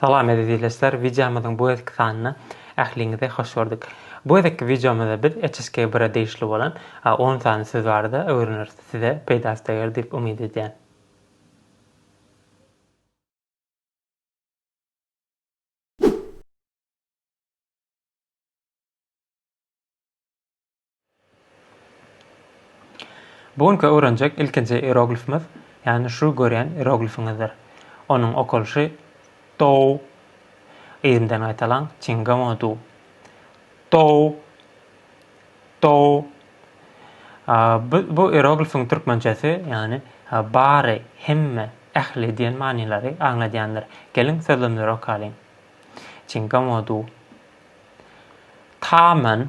Salam eziz ildeşler wideomyzyň bu gezeki sanyna ähliňizi hoş gördük. Bu gezeki wideomyzda biz HSK bire degişli bolan on sany söz barada öwreneris size peýdasy deger diýip umyt edýän. Bu günki öwrenjek ilkinji ieroglifimiz, ýagny şu görýän ieroglifiňizdir. Onuň okalyşy Dou. Yzymdan gaýtalaň, Çingamodu. Dou. Dou. Bu, bu ieroglifiň türkmençesi, ýagny bary, hemme, ähli diýen manylary aňladýandyr. Geliň, sözlemleri okalyň. Çingamodu. Tamen,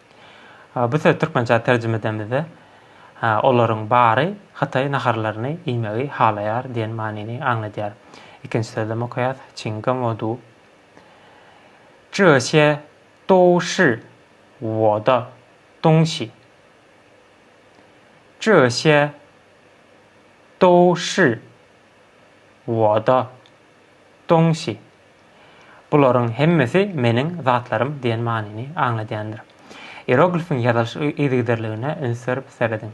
Bu sözi türkmençä terjime edemizde, olaryň bary hytaý naharlaryny iýmegi halaýar diýen manyny aňladýar. Ikinji sözlem okaýas, Çin gen wo du. Zhe xie dou shi wo de dong xi. Zhe xie dou shi wo de. Dongsi. Bularyň hemmesi meniň zatlarym diýen manyny aňladýandyr. Ieroglifiň ýazylyş yzygiderligine üns berip serediň.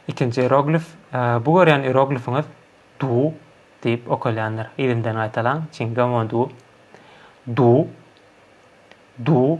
Ikinji ieroglif. Bu görýän ieroglifiňiz du diýip okalýandyr. Yzymdan gaýtalaň, çingomon du. Du. Du.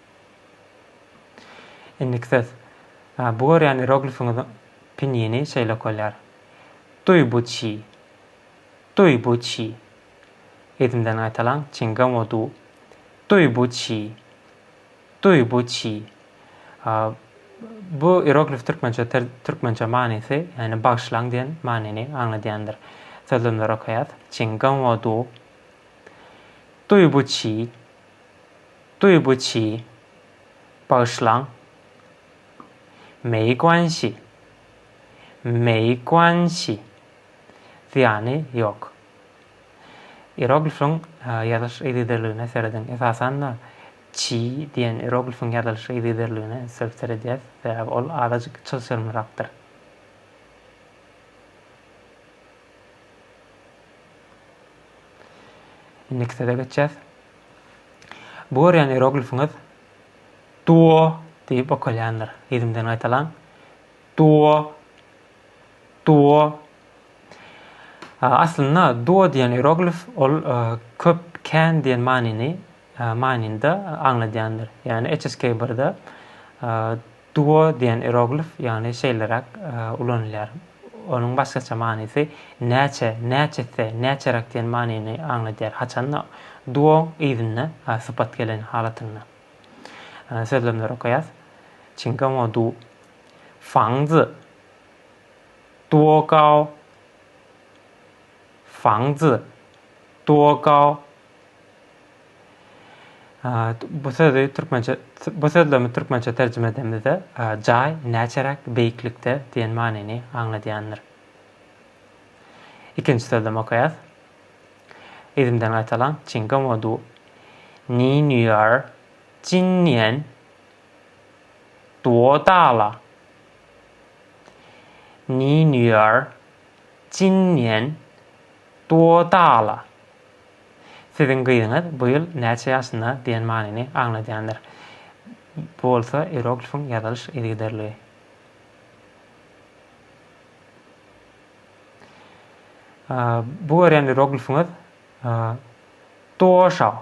Indiki söz. Bu görýän ieroglifiňiziň pinýini şeýle okalýar. Duý bu çi. Duý bu çi. Yzymdan gaýtalaň, çingam o du. Duý bu çi. Duý bu çi. Bu ieroglif türkmençe türkmençe manysy, ýagny bagyşlaň diýen manyny aňladýandyr. Sözlemleri okaýas. Çingam o du. Duý bu çi. Duýgu çi. Bagyşlaň. Mei guanşi. Mei guanşi. Zyýany ýok. Ieroglifiň ýazylyş yzygiderligine serediň. Esasan-da, çi diýen ieroglifiň ýazylyş yzygiderligine entegip seredýäs, sebäbi ol azajyk çylşyrymlyrakdyr. Indiki söze geçýäs. Bu görýän ieroglifiňiz duo diýip okalýandyr. Ýediňden gaýtalaň. Duo. Duo. Aslynda duo diýen ieroglif ol e, köp kän diýen manyny e, manynda aňladýandyr. Ýani HSK1-de e, Duo diýen ieroglif ýagny şeýleräk ulanylýar. Onuň başgaça manysy näçe, näçesi, näçeräk diýen manyny aňladýar. Haçanda, duo yzynda sypat gelen halatynda. Sözlemleri okaýas. Çingaomo du fangzi duo gao fangzi duo gao. Bu sözi türkmençe bu sözlemi türkmençe terjime edemizde jaý näçeräk beýiklikde diýen manyny aňladýandyr. Ikinji sözlemi okaýas. Yzymdan gaýtalaň. Çinga modu. Ni nýar. Jin nian. Duo dala. Ni nýar. Jin nian. Duo dala. Siziň gyzyňyz bu ýyl näçe ýaşynda diýen manyny aňladýandyr. Bu bolsa ieroglifiň ýazylyş yzygiderligi. Bu görýän ieroglifiňiz Duoşao.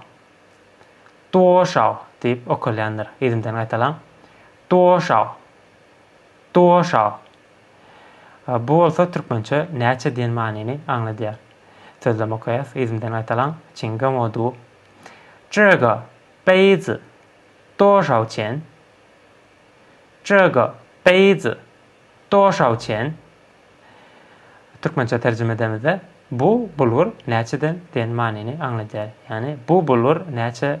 Duoşao diýip okalýandyr. Yzymdan gaýtalaň. Duoşao. Duoşao. Bu bolsa türkmençe näçe diýen manyny aňladýar. Sözlem okaýas, yzymdan gaýtalaň, Çinga modu, Zhega, beizi, doşao çen? Zhega, beizi, doşao çen? Türkmençe terjime edemizde, Bu bulgur näçeden diýen manyny aňladýar. Ýagny, bu bulgur näçe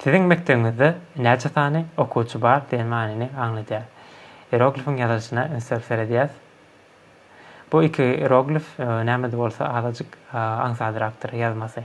Siziň mekdebiňizde näçe sany okuwçy bar diýen manyny aňladýar. Ieroglifiň ýazylyşyna üns berip seredýäs. Bu iki ieroglif näme-de bolsa azajyk aňsadrakdyr ýazmasy.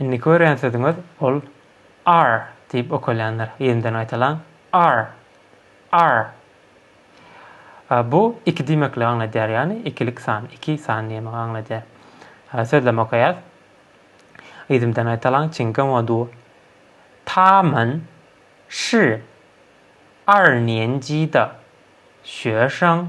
Indiki görýän sözüňiz ol ar diýip okalýandyr. Ýerinden gaýtalaň. Ar. Ar. Bu iki diýmekligi aňladýar, ýagny ikilik san, iki san diýmegi aňladýar. Sözlem okaýas. Yzymdan gaýtalaň, çiň geň o du. Tamen şi. Ar niýen ji da. Şüýe şaň.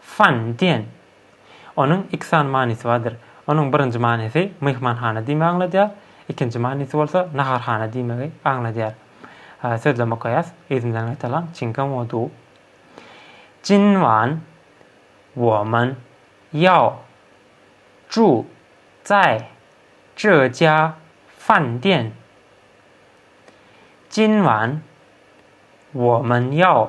Fan, diýen. Onuň iki sany manysy bardyr. Onuň birinji manysy myhmanhana diýmegi aňladýar, ikinji manysy bolsa naharhana diýmegi aňladýar. Sözleme okaýas, yzymdan gaýtalan, çiňkä moduw. Jinwan, woman, ýao, zhu, zai, zhe jia, fan, diýen. Jinwan, woman, ýao.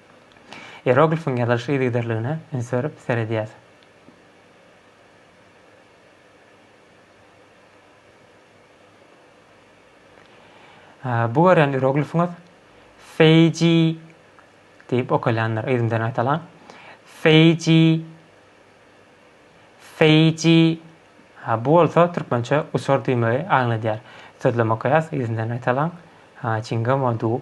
Ieroglifiň ýazylyş yzygiderligine üns berip seredýäs. Bu görýän ieroglifiňiz Feiji diýip okalýandyr. Yzyny bilen aýtalaň. Feiji Feiji Ha, bu bolsa türkmençe uçar diýmegi aňladýar. Sözlem okaýas, yzyny bilen aýtalaň. Ha, çingem o du.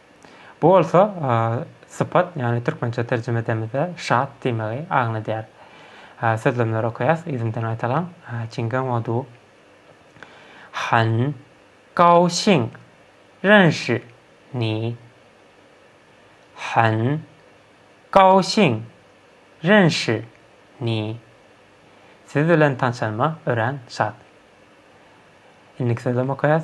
Bu bolsa sypat, ýagny türkmençe terjime edemizde şat diýmegi aňladýar. Sözlemleri okaýas, yzymdan gaýtalaň. Çinge Modu han gao xin ren shi ni. Han gao xin ren shi ni. Siz bilen tanşanyma örän şat. Indiki sözlem okaýas.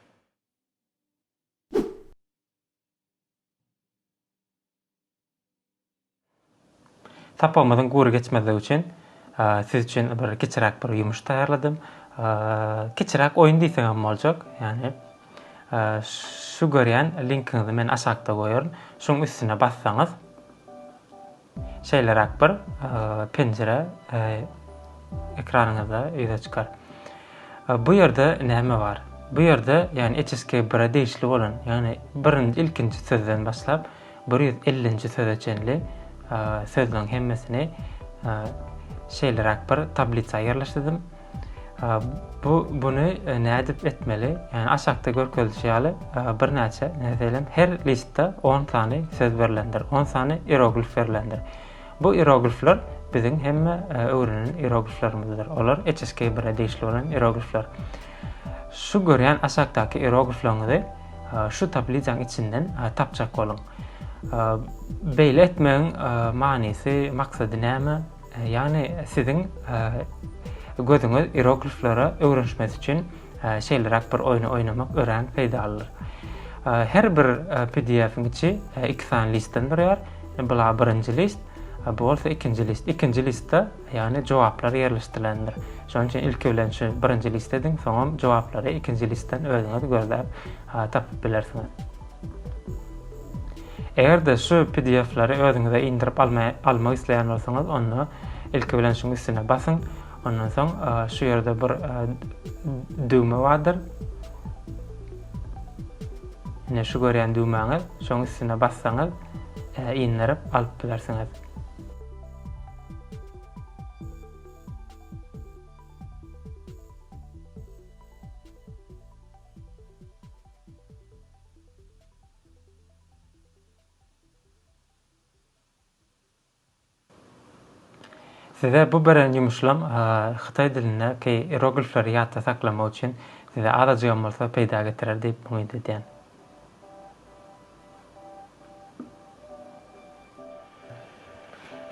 Sapagymyzyň gury geçmezligi üçin siz üçin bir kiçiräk bir ýumuş taýýarladym. Kiçiräk oýun diýseň hem boljak. Ýani şu görýän linkiňizi men aşakda goýaryn. Şuň üstüne bassaňyz Şeýleräk bir penjire ekranyňyzda ýüze çykar. Bu ýerde näme bar? Bu ýerde, ýagny HSK bire degişli bolan, ýagny birinji, ilkinji sözden başlap, bir ýüz ellinji söze çenli sözleriň hemmesini şeýleräk bir tablisa ýerleşdirdim. Bu buny nädip etmeli? Ýani aşakda görkezilişi ýaly birnäçe meselem her listde 10 sany söz berlendir. 10 sany ieroglif berlendir. Bu ieroglifler biziň hemme öwrenen ierogliflerimizdir. Olar HSK1-e degişli bolan ieroglifler. Şu görýän aşakdaky ieroglifleriňizi şu tablizanyň içinden tapjak boluň. Beýle etmegiň manysy, maksady näme? Ýagny siziň gözüňiz irogliflere öwrenişmesi üçin şeýleräk bir oýny oýnamak örän peýdalydyr. Her bir PDF-iň içi iki sany listden durýar. Bula birinji list, bu bolsa ikinji list. Ikinji listde, ýagny jogaplar ýerleşdirilendir. Şonuň üçin ilki bilen şu birinji list ediň, soňam jogaplary ikinji listden özüňiz gözläp tapyp bilersiňiz. Eger-de şu pdf-leri özüňize indirip almak isleýän bolsaňyz, onda ilki bilen şuň üstüne basyň. Ondan soň şu ýerde bir düwme bardyr. Ine şu görýän düwmäňiz, şoň üstüne bassaňyz, indirip alyp bilersiňiz. Size bu beren ýumuşlam hytaý dilindäki ieroglifleri ýatda saklamak üçin size azajygam bolsa peýda getirer diýip umyt edýän.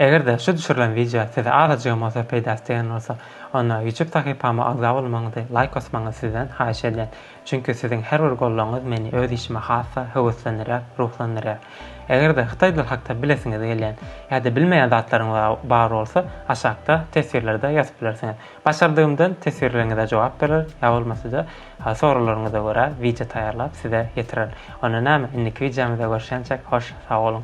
Eger-de şu düşürilen wideo size azajygam bolsa peýdasy degen bolsa, onda YouTube sahypama agza bolmagyňyzy, laýk basmagyňyzy sizden haýyş edýän. Çünki siziň her bir goldawyňyz meni öz işime has-da höweslendirýär, ruhlandyrýar. Eger-de hytaý dil hakda bilesiňiz gelýän ýa-da bilmeýän zatlaryňyz bar bolsa, aşakda teswirlerde ýazyp bilersiňiz. Başardygymdan teswirleriňize jogap berer, ýa bolmasa-da Ha soraglaryňyza görä wideo taýýarlap size ýetirerin. Onda näme indiki wideomyzda görşençek hoş sag boluň.